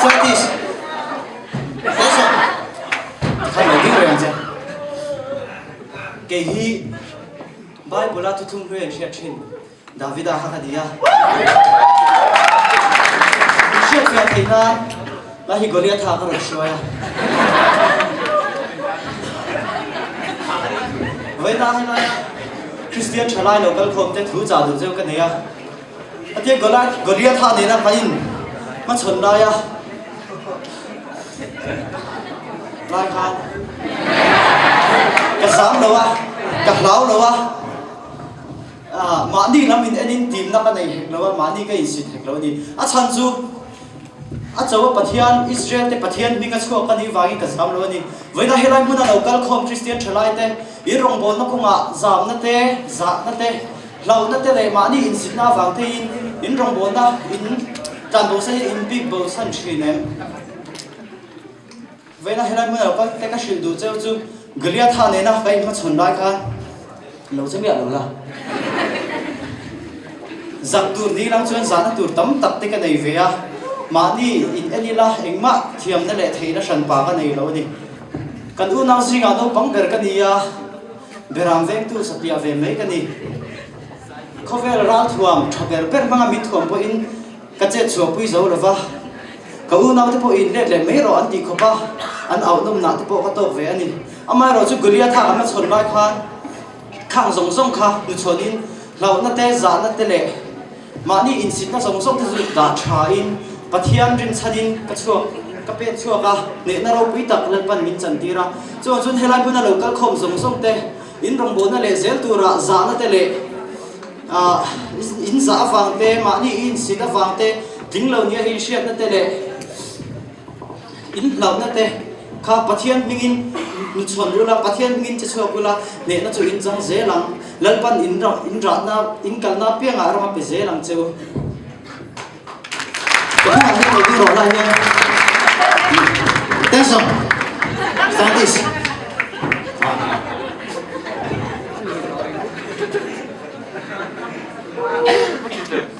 Satish. Satish. Kha lo ding reng che. Kei hi Bible a tutum hnu em hriat thin. Davida kha ka nia. Min hriat hriat thei hna. Ka hi Goliath a ka rawn hruai a. Vawina haihnawia Kristian thalai lo kal khawmte thu chah duh cheu ka nei a. A tia Goliath, Goliath a nena hmai in hma chhawn lai a, lai khan ka zam lo a, ka hlau lo a, mahni lam in en in timna ka nei hek lo a, mahni ka insit hek lo a ni. A chhan chu a chaua Pathian, Israel te Pathian hming a chhuak a nih vang in ka zam lo a ni. Vawiinah helai hmun a lo kal khawm Kristian thalai te in rawngbawlna kawngah zamna te, zahna te, Hlauhna te leh mahni insitna avang teiin in rawngbawlna in tlan bo se in bik bo chhan thin em? Vawiina helai hmun alo kal te ka hrilh duh cheu chu Goliatha nena ka inhmachhawn lai khan lo che miah lo la. Zak tur ding lam chuan zahna tur tam tak te ka nei ve a, mahni in en ila engmah thiamna leh theihna hran pa ka nei lo a ni. Kan unau zingah naupang ber ka ni a, Berang vengtu satliah ve mai ka ni. Khawvel ralthuam tha ber ber hmanga min thuam pawhin ka chet chhuah pui zo lo va. Ka unaute pawhin let leh mai rawh an tih khawp a, an auh nawmna te pawh ka tawk ve a ni. Amaherawh chu Goliatha kan la chhawn lai khan khang zawng zawng kha hnuchhawnin hlauhnate, zahna te leh. Mahni insitna zawng zawng te chu dah tha in Pathian rim chhan in ka chhuak ka pek chhuak a, hnehna ropui tak Lalpan min chan tir a. Chungah chuan helai hmuna lo kal khawm zawng zawng te, in rawngbawlna leh zel tura zahna te leh ah in zah avang te, mahni i insit avang te, tling lo nia hi inhriatna te leh. Inhlauhnate kha Pathian hmingin nu chhawn ula, Pathian hmingin che chhuak ula, hnehna chu in chang zel ang, Lalpan in rah, in rahna, in kalna piangah ram a pe zel ang che u. Kawngah hi lo ding rawh lai hian Thanks John. Scientist. Ahh.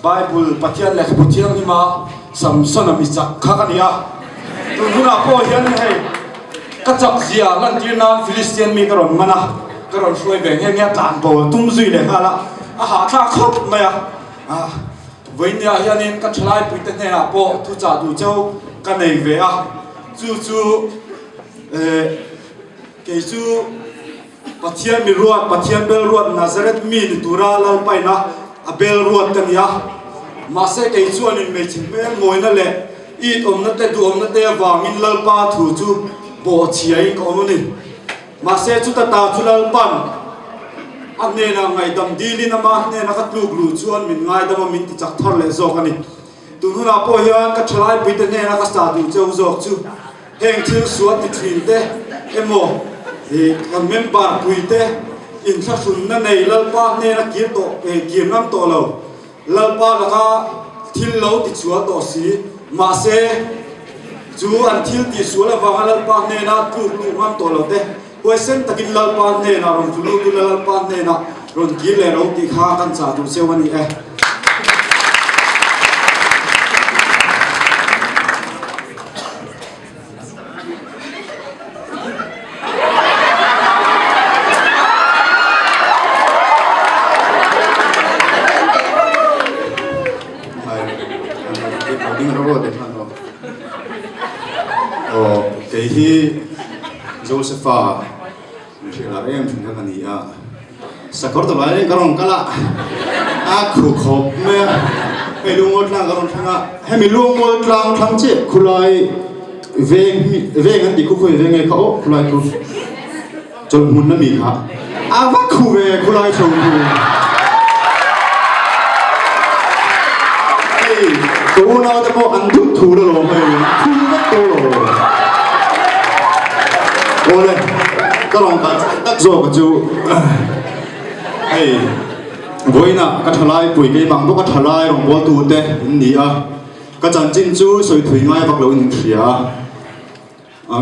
Bible, Pathian Lehkhabu Thianghlim a Samson a mi chak kha ka ni a, tun hunah pawh hian ni hei, ka chak zia lantir nan Philistine mi ka rawn man a, ka rawn hruai ve nghe nghe a, tlan pawl tum zui leh nghal a, a hahtlang khawp mai a, ah, vawinia hianin ka thalai pui te hnenah pawh thu chah duh cho ka nei ve a, chu chu, eh, kei chu. Pathian mi ruat, Pathian bel ruat Nazareth mi ni tura lalpaina a bel ruat ka nia. Mahse kei chuanin hmeichhe hmel ngawina leh it awmna te duhawmna te avangin lalpa thu chu bawh a chhiain ka awm a ni. Mahse chuta ta chu lalpan a hnenah ngaihdam dilin ama hnena ka tluk luh chuan min ngaidam a min tichak thar leh zawk a ni. Tunhunah pawh hian ka thalaipui te hnena ka sa duh cheu zawk chu heng thil sual ti thin te emaw kan member pui te inthlahrunna nei Lalpa hnena kir tawh kir ngam tawh lo Lalpa laka thil lo ti chhuah tawh si mahse chu an thil tih sual avanga Lalpa hnena tluk luh ngam tawh lo te Huaisen takin Lalpa hnenah rawn tlu lut ula, Lalpa hnenah rawn kir leh ro tih kha kan chah duh cheu a ni e. Aw, kei hi Josepha hrilhar em hrin kha ka ni a. Sakawr ta lai ka rawn kal a, a khu khawp mai a. Hei lungawi tlang ka rawn thleng a, hemi lungawi tlang thlang che khulai veng veng an tih khu khawi ve nge kha aw khulai khu. Chuan hmun ami kha a va khuh ve khulai chho chu hei ka u naute pawh an duh thu lo lawm mai in thu vek tur lo awle ka rawn kal chak tak zawk a chu hei vawiina ka tha lai pui keimang pawh ka tha lai rawngbawl tu te in ni a ka chanchin chu sawithui ngai vak lo in in hria a.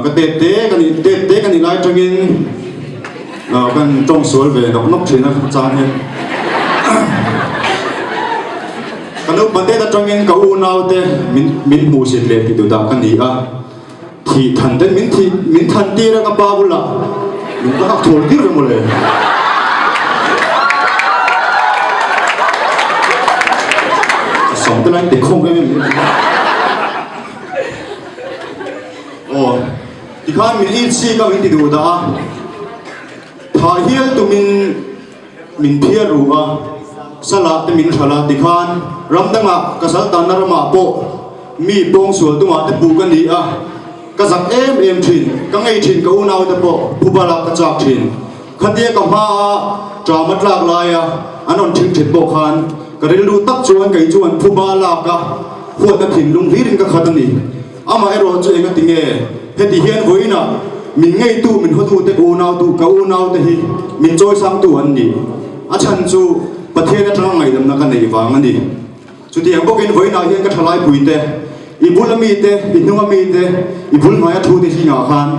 Ka tet te ka nih tet te ka nih lai tangin ka han tawng sual ve nawk nawk thin a chang hian ka naupâ te ta tangin ka u nau te min min hmuh sit leh ti duh dah ka ni a thih than te min thih min than tir a ka pa bulah min ka hak thur tir emaw le a sawm te lai a intikhawm em em mai a. Aw, tikhan min i chhik a min ti duh dah a, thah hial tumin min phiar ru a, salah te min hralh a tikhan ram dangah ka saltanna ramah pawh mi pawng sual tuma te puh ka ni a, ka zak em em thin, ka ngei thin ka unau te pawh phu balah ka chak thin. Khatia ka hma a tram atlak lai a an rawn thil thet pawh khan ka rilru tak chuan kei chuan phu ba lak a huat a thin lung hlir in ka khat a ni. Amah erawh chu enga ti nge heti hian vawiin ah min ngei tu min haw tu te unau tu ka unau te hi min chawi sang tu an ni a chhan chu Pathian atanga ngaidamna ka nei vang a ni. Chutiang bawkin vawiinah hian ka thalai puite, i bula mite, i hnunga mite, i bul hnuaia thute zingah khan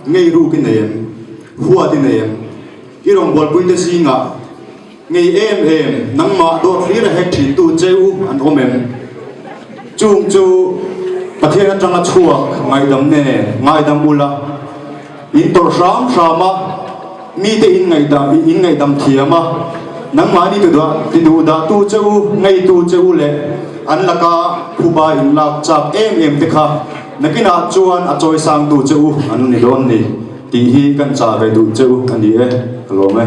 ngei ruk i nei em? Huat i nei em? I rawngbawlh puite zingah ngei em em nangmah dawr hlir a hek thintu cheu an awm em? Chung chu Pathian atanga chhuak ngaidam nge ngaidam ula? In tawrh hram hram a, mite in ngaihdah in ngaihdam thiam a, nangmahni tudah ti duh dah tu che u, ngei tu che u leh an laka phuba in lak chak em em te kha nakinah chuan a chawi sang tu che u an ni dawn ni tih hi kan chah ve duh che u a ni e ka lawm e.